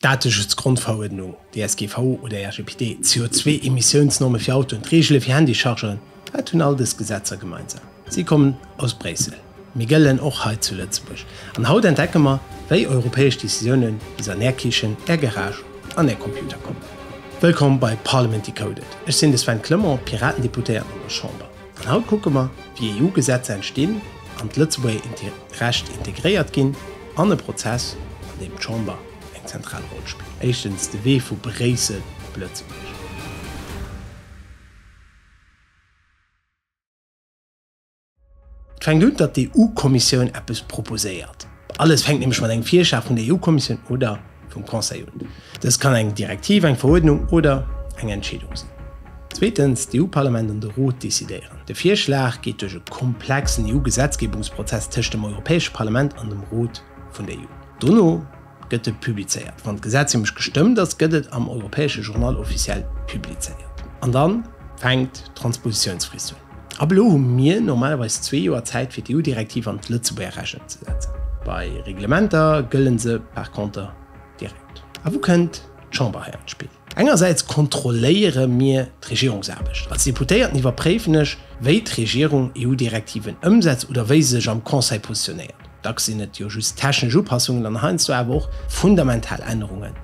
Dateschutz-Grondverordnung, DSGV oder RGPD, d'CO2-Emissiounsnorme fir Autoen, d'Reegele fir Handychargeren, wat hunn all dës Gesetzer gemeinsam? Si kommen aus Bréissel, mee gëllen och hei zu Lëtzebuerg. An haut entdecke mer, wéi europäesch Decisiounen bis an Är Kichen, Är Garage an Är Computer kommen. Wëllkomm bei Parliament Decoded, ech sinn de Sven Clement, Piraten-Deputéierten an der Chamber. An haut kucke mer, wéi EU-Gesetzer entstinn, an d'Lëtzebuerger Recht integréiert ginn, an e Prozess, an deem d'Chamber eng zentral Roll spillt. Éischtens, de Wee vu Bréissel op Lëtzebuerg. Et fänkt un, datt d'EU-Kommissioun eppes proposéiert. Alles fänkt nämlech mat engem Virschlag vun der EU-Kommissioun oder vum Conseil un. Dëst kann eng Direktiv, eng Veruerdnung oder eng Entscheedung sinn. Zweetens, d'EU-Parlament an de Rot decidéieren. De Virschlag geet duerch e komplexen EU-Gesetzgebungsprozess tëscht dem Europäesche Parlament an dem Rot vun der EU. Dono gëtt e publizéiert. Wann d'Gesetz nämlech gestëmmt ass, gëtt et am Europäesche Journal officiel publizéiert. An da fänkt d'Transpositiounsfrist un. Ab elo hu mir normalerweis zwee Joer Zäit fir d'EU-Direktiv an d'Lëtzebuerger Recht ëmzesetzen. Bei Reglementer gëlle se par conter direkt. A wou kënnt d'Chamber hei an d'Spill? Engersäits kontrolléiere mir d'Regierungsaarbecht. Als Deputéierten iwwerpréifen ech, wéi d'Regierung EU-Direktiven ëmsetzt oder wéi se sech am Conseil positionéiert. Dacks sinn et jo just technesch Upassungen an heiansdo awer och fundamental Ännerungen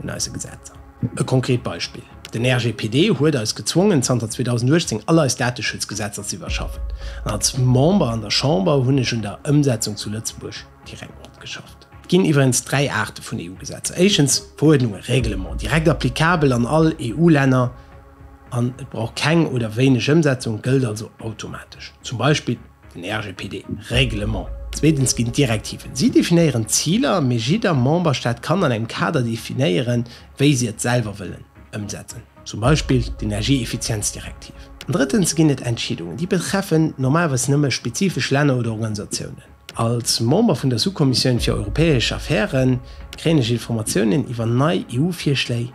un eise Gesetzer. E konkret Beispill, Den RGPD huet eis gezwongen, zanter 2018 all eis Dateschutz-Gesetzer ze iwwerschaffen. An als Member an der Chamber hunn ech un der Ëmsetzung zu Lëtzebuerg direkt matgeschafft. Et ginn iwwerens dräi Aarte vun EU-Gesetzer, éischtens Verordnungen, Règlements, direkt applicabel an all EU-Länner an et brauch keng oder wéineg Ëmsetzung, gëllt also automatesch, zum Beispill, Den RGPD, Règlement. Zweetens ginn d'Direktiven. Si definéieren d'Ziler, mee jidder Memberstaat kann an engem Kader definéieren, wéi si et selwer wëllen ëmsetzen, zum Beispill d'Energieeffizienzdirektiv. An drëttens ginn et Entscheedungen. Déi betreffen normalerweis nëmme spezifesch Länner oder Organisatiounen. Als Member vun der Sous-Kommissioun fir europäesch Affäre kréien ech Informatiounen iwwer nei EU-Virschléi,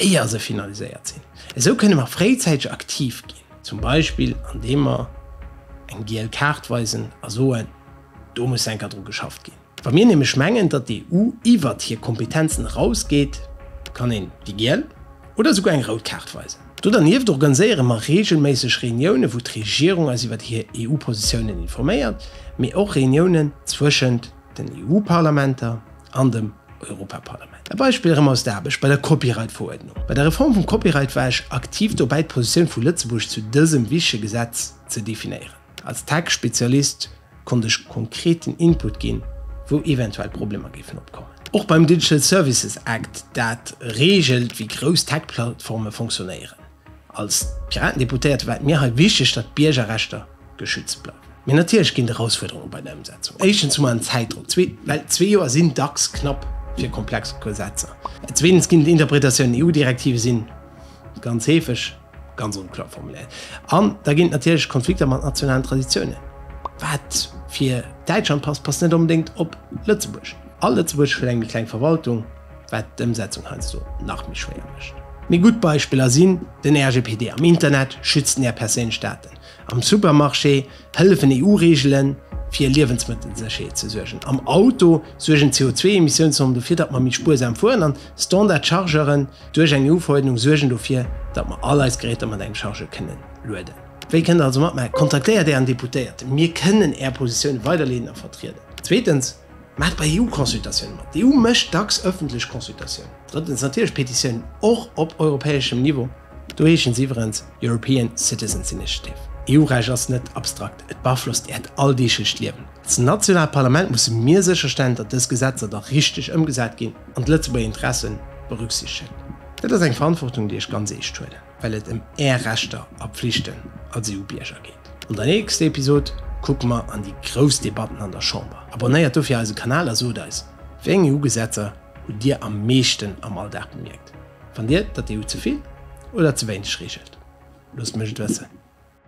éier se finaliséiert sinn. Esou kënne mer fréizäiteg aktiv ginn. Zum Beispill an deem mer eng giel Kaart weisen a soen, do muss enker dru geschafft ginn. Wa mir nämlech mengen, datt d'EU iwwert hir Kompetenzen eraus geet, kann een déi giel oder esouguer eng rout Kaart weisen. Do dernieft organiséiere mer reegelméisseg Reuniounen, wou d'Regierung eis iwwert hir EU-Positiounen informéiert, mee och Reuniounen zwëschent. den EU-Parlamenter an dem Europaparlament. E Beispill erëm aus der Aarbecht bei der Copyright-Veruerdnung. Bei der Reform vum Copyright war ech aktiv dobäi, d'Positioun vu Lëtzebuerg zu dësem wichtege Gesetz ze definéieren. Als Tech-Spezialist konnt ech konkreten Input ginn, wou eventuell Problemer géifen opkommen. Och beim Digital Services Act, dat reegelt, wéi grouss Tech-Plattforme fonctionnéieren. Als Piratendeputéierte war et mir hei wichteg, datt d'Biergerrechter geschützt bleiwen. Mee natierlech ginn et Erausfuerderunge bei der Ëmsetzung. Éischtens hu mer en Zäitdrock, zweetens, well zwee Joer sinn dacks knapp fir komplex Gesetzer, zweetens ginn et Interpretatiounen, EU-Direktive si ganz heefeg ganz onklar formuléiert an da ginn et natierlech Konflikter mat nationalen Traditiounen. Wat fir Däitschland passt, passt net onbedéngt op Lëtzebuerg. A Lëtzebuerg huet eng méi kleng Verwaltung. wat d'Ëmsetzung heiansdo nach méi schwéier mécht. Méi gutt Beispiller sinn den RGPD, am Internet schützt een är perséinlech Daten, am Supermarché hëllefen EU-Reegelen, fir Liewensmëttelsécherheet ze suergen, am Auto suergen d'CO2-Emissiounsnormen dofir, datt mer méi spuersam fueren, an Standard-Chargeuren duerch eng EU-Verordnung suergen dofir, datt mer all eis Geräter mat engem Chargeur kënnen lueden. Wéi kënnt der also matmaachen? Kontaktéiert ären Deputéierten, mir kënnen är Positioune weiderleeden a vertrieden. Zweetens. Maacht bei EU-Consultatiounen mat. D'EU mécht dacks ëffentlech Consultatiounen. Drëttens natierlech Petitiounen, och op europäeschem Niveau. Do heeschen se iwwerens European Citizens Initiative. EU-Recht ass net abstrakt, et beaflosst Äert alldeeglech Liewen. Als nationaalt Parlament musse mir sécherstellen, datt dës Gesetzer da richteg ëmgesat ginn an d'Lëtzebuerger Interessen berücksichtegen. Dat ass eng Verantwortung, déi ech ganz eescht huelen. well et ëm Är Rechter a Pflichten als EU-Bierger geet. An der nächster Episod kucke mer an déi grouss Debatten an der Chamber. Abonnéiert dofir eise Kanal a sot eis, Wéi eng EU-Gesetzer hutt Dir am meeschten am Alldag bemierkt? Fannt Dir, datt d'EU ze vill oder ze wéineg reegelt? Loosst mech et wëssen.